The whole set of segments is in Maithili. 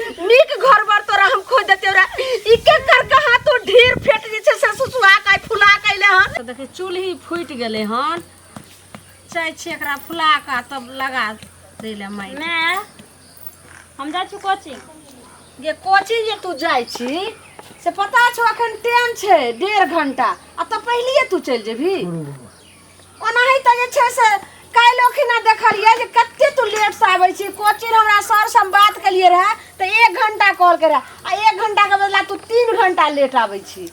नीक घर बर तोरा हम खोज देते रे ई के कर कहा तू ढेर फेट जे छै से सुसुआ के फुला कैले हन तो देखिए चूल्ही फूट गए हन चाहे छी एकरा फुला का तब लगा दे ले माई मैं हम जा छु कोचिंग ये कोचिंग जे तू जाय छी से पता छो अखन टाइम छै डेढ़ घंटा आ तो पहलिए तू चल जेबी ओनाही तऽ जे छै से काल्हि ओखिना देखलियै जे कते तू लेट से आबै छी कोचिंग हमरा सर से हम बात केलियै रहे तऽ एक घंटा कॉल के रहे आ एक घंटा के बदला तू तीन घंटा लेट आबै छी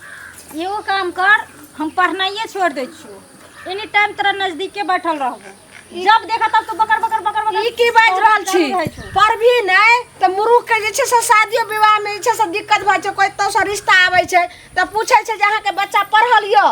एगो काम कर हम पढ़नाइए छोड़ दै छियो एनी टाइम तोरा नजदीके बैठल रहबो जब देखा तब तो बकर बकर बकर बकर ई की बाजि रहल छी करैत रहै छौ। पर भी नहि तऽ मुरुख के जे छै से शादियो विवाह में जे छै से दिक्कत भऽ छै कोई तो से रिश्ता आबै छै तऽ पूछै छै जे अहाँके बच्चा पढ़ल यऽ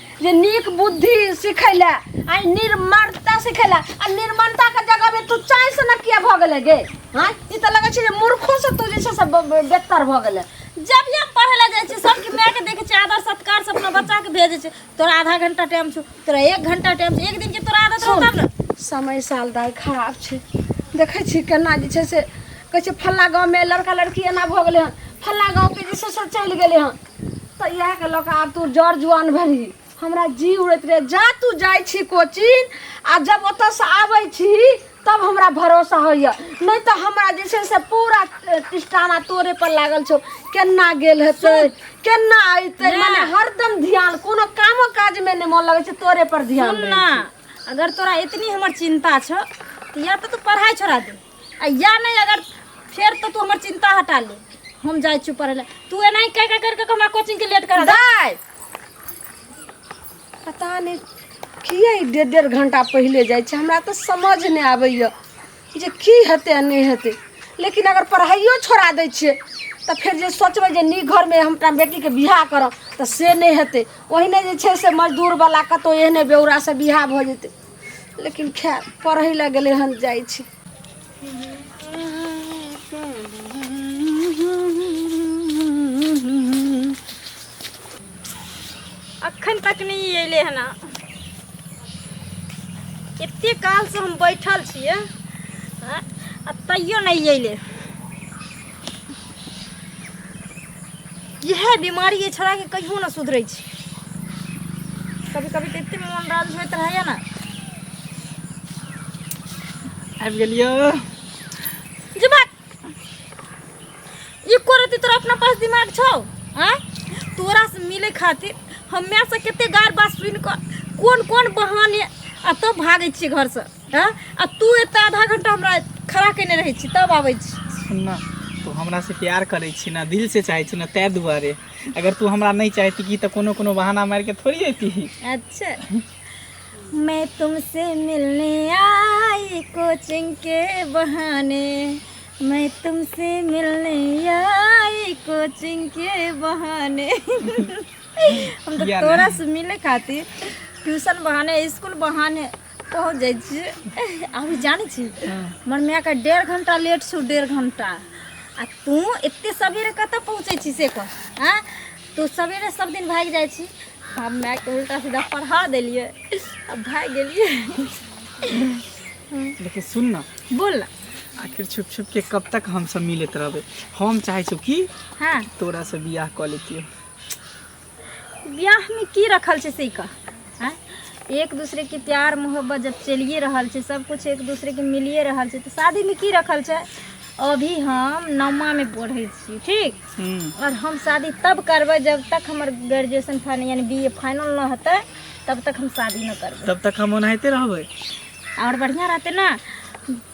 जे नीक बुद्धि सीखै लए आ ई निर्ममता सीखै लए आ निर्ममता के जगह में तू चाय से न किया भऽ गेले गे हाँ ई तऽ लगै छै जे मूर्खो से तू जे छै से ब- ब- बेहतर भऽ गेले जब भी हम पढ़े ला जाइ छी सबके माय के देखे छी आदर सत्कार से अपना बच्चा के भेजे छी तोरा आधा घंटा टाइम छौ तोरा एक घंटा टाइम छौ एक दिन के तोरा आदत रहौ तब ने समय साल दाय खराब छै देखै छी केना जे छै से कहै छै फल्ला गाँवमे लड़का लड़की एना भऽ गेलै हन फल्ला गाँवके जे छै से चलि गेलै हन तऽ इएह के लऽ कऽ आब तू जड़ जुआन भेलही हमरा जी उड़ैत रहे जा तू जाइ छी कोचिंग आ जब ओतऽसँ आबै छी तब हमरा भरोसा होइए नहि तऽ हमरा जे छै से पूरा टिस्टाना तोरे पर लागल छौ केना गेल हेतै केना अयतै नहि। मने हरदम ध्यान कोनो कामो काज में नहि मोन लगै छै तोरे पर ध्यान सुन रहै ना छै। अगर तोरा इतनी हमर चिंता छो तो या तो तू पढ़ाई छोड़ा दे आ या नहीं अगर फिर तो तू हमर चिंता हटा ले हम जाए चुप रहे तू एना ही कह कह करके हमरा कोचिंग के लेट करा दे दाय पता नहीं किए ई डेढ़ डेढ़ घंटा पहिले जाइ छै हमरा तऽ समझ नहि आबैए जे की हेतै आ नहि हेतै लेकिन अगर पढ़ाइयो छोड़ा दै छियै तऽ फेर जे सोचबै जे नीक घरमे हम अपना बेटीके बियाह करब तऽ से नहि हेतै ओहिने जे छै से मजदूरवला कतहु एहने बेउरासँ बियाह भऽ जेतै लेकिन खै पढ़ै लए गेलै हन जाइ छै अखन तक नहि अयलै हन एते कालसँ हम बैठल छियै आ तैयो नहि अयलै इएह बीमारी एहि छोड़ाके कहियो नहि सुधरै छै कभी कभी तऽ एतेक मोन राज होइत रहैए ने आबि गेलियो जे बात ई करती तोरा अपना पास दिमाग छौ आँय तोरासँ मिलै खातिर हमेसँ कतेक गारि बात सुनि कऽ कोन कोन बहाने आ तब भागै छियै घरसँ हँ आ तू एतऽ आधा घंटा हमरा खड़ा केने रहै छी तब आबै छी सुन ना तू हमरा से प्यार करै छी ना दिल से चाहै छी ना तै दुआरे अगर तू हमरा नहीं चाहती की तो कोनो कोनो बहाना मार के थोड़ी अती अच्छा मैं तुमसे मिलने आई कोचिंग के बहाने मैं तुमसे मिलने आई कोचिंग के बहाने हम तो तोरा से मिले खातिर ट्यूशन बहाने स्कूल बहाने पहुँच जाइ छियै अभी जानै छी हमर मायके डेढ़ घंटा लेट छौ डेढ़ घंटा आ तू एते सवेरे कतऽ पहुँचै छी से कह हँ तू सवेरे सब दिन भागि जाइ छी हम मायके उल्टा सीधा पढ़ा देलियै आ भागि गेलियै देखिए सुन ना बोल ना आखिर छुप छुप के कब तक हम सब मिलत रहबे हम चाहे छो कि हाँ तोरा से बियाह कर लेतियो ब्याहमे की रखल छै से कह आँय? एक दूसरे के प्यार मोहब्बत जब चलिए रहल छै सब कुछ एक दूसरे के मिलिए रहल छै तो शादी में की रखल छै अभी हम नौमा में पढ़े छी ठीक हम्म, और हम शादी तब करबै जब तक हमर ग्रेजुएशन फाइनल यानी बी ए फाइनल न होतै तब तक हम शादी न करबै तब तक हम ओनाहिते रहबै और बढ़िया रहते ना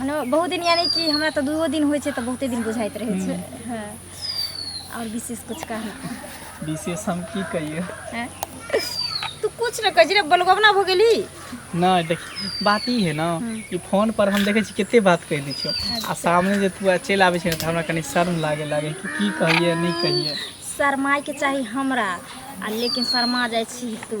मने बहुत दिन यानी कि हमरा तऽ दूओ दिन होइ छै तऽ बहुते दिन बुझाइत रहै छै हँ आओर विशेष किछु कहना विशेष हम की कहिए हैं? तू कुछ न कह रे बलगवना भ गेली नहि देख बात ई है ना कि फोन पर हम देखै छी कते बात कहि दै छियो आ सामने जे तू चलि आबै छै ने तऽ हमरा कनी शर्म लागे लागे कि की कहिए नहि कहिए शर्माय के चाही हमरा आ लेकिन शर्मा जाइ छी तू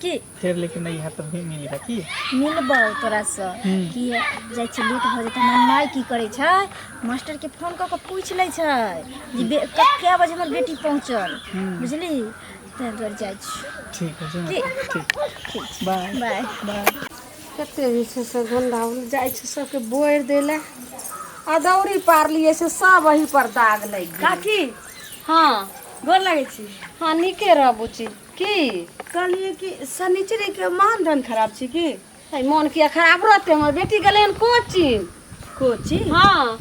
की फेर लेकिन नहि हैत तऽ भी मिल हैत की मिलबौ तोरासँ हम्म। कि जाइ छै लेट भऽ जेतै हमर माय की करै छै मास्टरके फोन कऽ कऽ पूछि लै छै जे बे- क- कए बजे हमर बेटी पहुँचल हम्म। बुझली ताहि दुआरे जाइ छी ठीक है जो की? ठीक बाय बाय बाय कते जे छै से गंदा उल जाइ छै सबके बोरि दै लए आ दौरी पारलियै से सब वही पर दाग लागि गेल काकी हँ गोर लगै छी हँ नीके रह बुची की कहलिए कि शनिचरी के मान धन खराब छी की है मन किया खराब रहते हमर बेटी गेलै हन कोचिंग कोचिंग हाँ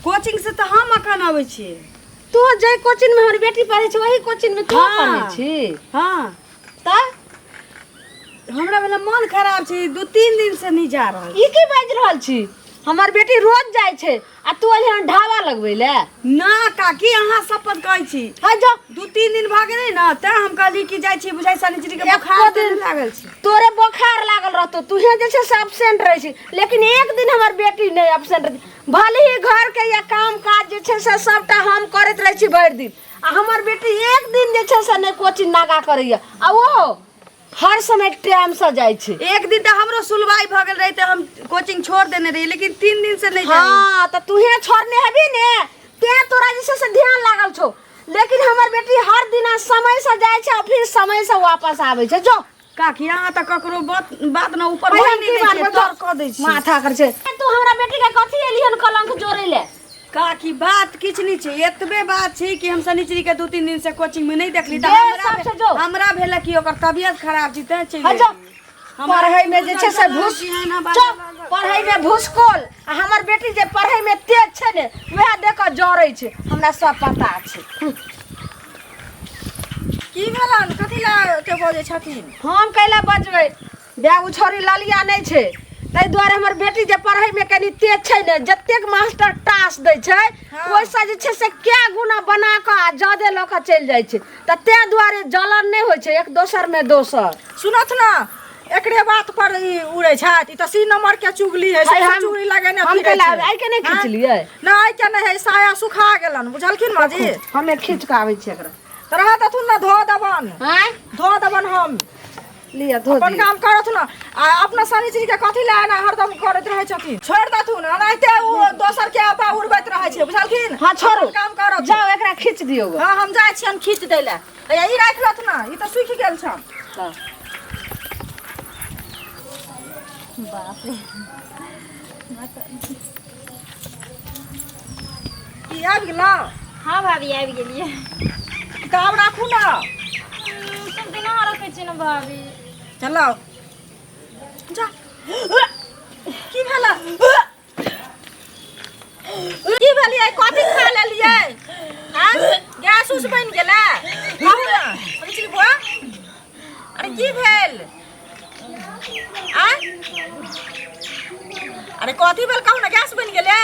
कोचिंग से तऽ हम अखन अबै छी तू जै कोचिंग में हमर बेटी पढ़े छै वही कोचिंग में तू हाँ। पढ़े छी हाँ तऽ हमरा भेल मन खराब छै दू तीन दिन से नहीं जा रहल ई की बाजि रहल छी हमर बेटी रोज जाइ छै आ तू अली हन ढाबा लगबै ले ना काकी अहाँ सब पर कहै छी है जो दू तीन दिन भऽ गेलै ने तैं हम कहली कि जाइ छी बुझाइ शनिचरी के एको बोखार दिन- दिन लागल छै तोरे बोखार लागल रहतो तुहे जे छै से एबसेंट रहै छी लेकिन एक दिन हमर बेटी नहि एबसेंट रहै भले ही घर के या काम काज जे छै से सबटा हम करैत रहै छी भरि दिन आ हमर बेटी एक दिन जे छै से नहि कोचिंग नागा करैया आ ओ हर समय टाइम से जाए छे एक दिन तो हमरो सुलवाई भ गेल रही त हम कोचिंग छोड़ देने रही लेकिन तीन दिन से नहीं जाई हां त तू हे छोड़ने हबी ने ते तोरा जैसे से ध्यान लागल छो लेकिन हमर बेटी हर दिन समय से जाए छे और फिर समय से वापस आवे छे जो काकी यहाँ तक ककरो बात बात ना ऊपर होई नहीं दै छै, तोर कह दै छी। माथा कर छे तू हमरा बेटी के कथी एलियन कलंक जोरे ले काकी बात किछ नहीं छै एतबे बात छै कि हम शनिचरी के दू तीन दिन से कोचिंग में नहीं देखली त देर हमरा साँझ से जो। भे- हमरा भेल कि ओकर तबियत खराब छी तैं चलि हट जा। गेली। हमरा पढ़ै में जे छै से बुझल घुस कि एना बात चुप लागल। पढ़ै में भुसकोल आ हमर बेटी जे पढ़ै में तेज छै ने वएह देख कऽ जरै छै हमरा सब पता छै की भेलन कथी ला के बजै छथिन हम कैला बजबै बे ओ छोरी ललिया नहि छै ताहि दुआरे हमर बेटी जे पढ़ैमे कनि तेज छै ने जतेक मास्टर टास दै छै हँ। ओहिसँ जे छै से कए गुना बना कऽ आ जादे लऽ कऽ चलि जाइ छै तऽ ताहि दुआरे जलन नहि होइ छै एक दोसरमे दोसर सुनत ने एकरे बात पर ई उड़ै छथि ई तऽ सी नंबर के चुगली है है, हम- चुगली लगेने हम फिरै कैला छै। आइ के नहि हाँ? खींचलियै? ना आइ के नहि है साया सुखा गेलन बुझलखिन माँ जी हमे खींच कऽ आबै छियै एकरा तऽ रहत अथुन ने धो देबन आँय धो देबन हम लिअ धो अपन काम करत ना आ अपना सारी चीज के कथी ले ना हरदम करत रहे छथिन छोड़ दथु ना ओनाहिते उ दोसर के आपा उड़बैत रहे छै बुझलखिन हां छोड़ू काम करत जाओ एकरा खींच दियो हां हम जाय छी हम खींच दै ले या ई राख लत ना ई त सुखि गेल छ हां बाप रे की आबि गेलौ हाँ भाभी आबि गेलियै तऽ आब राखू ने सब दिना रखै छियै ने भाभी चलो जा की भेला की भेलियै कथी खा लेलियै हाँ? गैस उस बनि गेलै कहू ने हम चिलबुआ अरे की भेल आ अरे कथी भेल कहू ना गैस बनि गेलै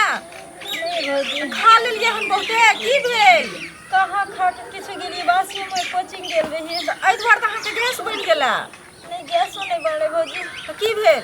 खा लेलियै हम बहुते की भेल कहाँ खा के किछु गेलियै बासी में कोचिंग गेल रहियै तऽ एहि दुआरे तऽ अहाँके गैस बनि गेला नहीं गैसो नहीं बनले भौजी तऽ की भेल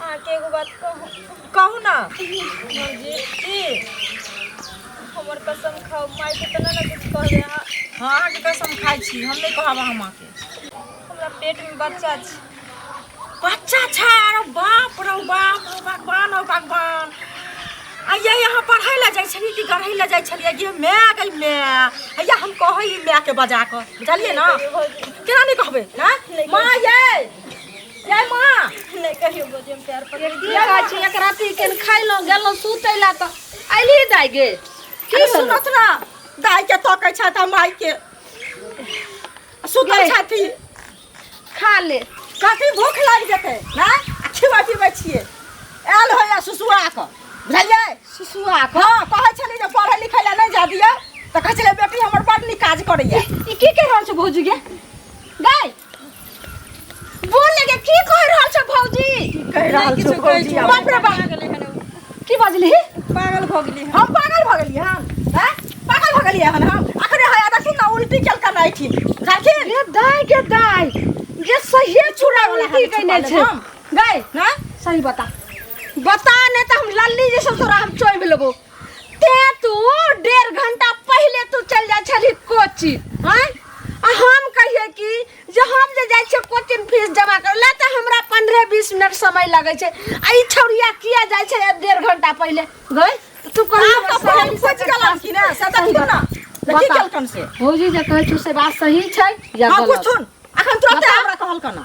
अहाँके एगो बात कहू कहू ना भौजी की हमर कसम खाओ माय के तना ना कुछ कहबे अहाँ हाँ अहाँके कसम खाइ छी हम नहि कहब अहाँ माँके हमरा पेट में बच्चा अछि बच्चा छै अरे बाप रौ बाप रौ भगवान रौ भगवान आइया यहाँ पढ़ै लए जाइ छलियै कि गढ़ै लए जाइ छलियै गे माय गई माय आइया हम कहै ई मायके बजा कऽ बुझलियै ने भौजी केना नहि कहबै ना माँ यै जय माँ नहीं कहियो गोदी में प्यार पकड़ दिया गाछी एक राती के खैलो गेलो सुतै ला त आइली दाई गे की अरे सुनो सुनत ना दाई के तो कह छा था माई के सुतल के? छाती खा ले कथी भूख लाग जेते ना खिवा पिबै छिए आयल हो या सुसुआ क बुझलिए सुसुआ क हां कहै छली जे पढ़े लिखै ला नहीं जा दिया त कहै छले बेटी हमर बड़ नीक काज करैया ई की कह रहल छ भौजी गे गाय बोल लगे की कह रहल छ भौजी कह रहल छौ भौजी आब। बाप रे बाप की बाजली पागल भऽ गेली हम पागल भऽ गेलियै हन हैं? पागल भऽ गेलियै हन हम अखने हया देखी ना उल्टी केल कर रही थी देखी गे दाय गे दाय गे सहिए चूड़ा वाला उल्टी कइने छै हम गए ना सही बता बता नहीं तो हम लल्ली जैसे तोरा हम चोइब लेबो ते तू डेढ़ घंटा पहिले तू चल जाय छली कोचिंग हैं आ हम कहिए कि जे हम जे जाय छियै कोचिंग फीस जमा करे ला तऽ हमरा 15 20 मिनट समय लगे छै आ ई छौरिया किया जाय छै डेढ़ घंटा पहिले गई तू कहीं आब तऽ पहल खोज गेलन कि ना से देखियो ना से की बता। केलकन से भौजी जे कहै छौ से बात सही छै या हां कुछ गलत सुन अखन तुरंत हमरा कहलकन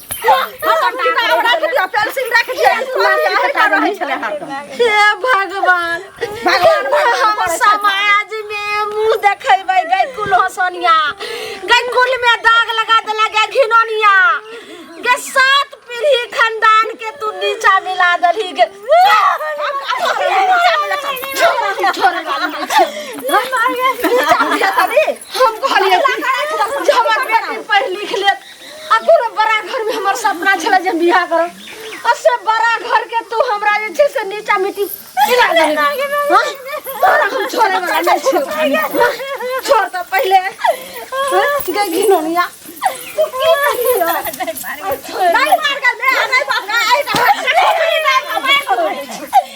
हे भगवान हम समाज में मुंह देखेबै गै कुल हसनिया गै कुल में दाग लगा देला गै घिनोनिया गै सात पीढ़ी खानदान के तू नीचा मिला देलही गै हम कहलिए जे हमर बेटी पढ़ लिख ले आ कोनो बड़ा घर में हमर सपना छला जे हम बियाह करब आ से बड़ा घर के तू हमरा जे छै से नीचा मिट्टी खिला देबे हाँ? तोरा हम छोड़े वाला नहीं छियो छोड़ तो पहले हाँ? गे घिनौनिया तू की करली हो? नहीं मार कर दे नहीं बाप रे आई तो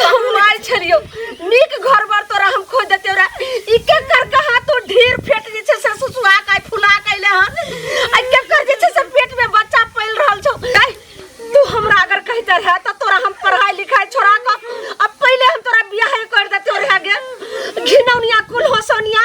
हम मार छलियो नीक घर बर तोरा हम खोज देते रे ई के कर कहा तू ढेर फेट जे छै से सुसुआ का फुला कैले हन आ के कर जे छै से पेट में बच्चा पैल रहल छौ कै तू हमरा अगर कहते रहे त तोरा हम पढ़ाई लिखाई छोड़ा क अब पहले हम तोरा बियाह कर देते रहे गे घिनौनिया कुल होसौनिया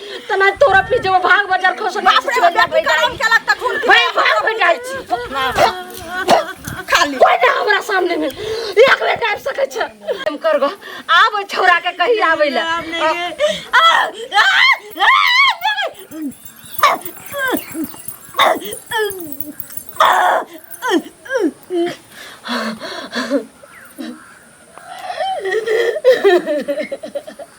तना तोरा पे जो भाग बजार खस बाप रे बाप रे काम केला त खून के भाई भाग बजार छी खाली कोई ना हमरा सामने में एक बेर टाइप सकै छ हम करगो आब ओइ छोरा के कहि आबै ले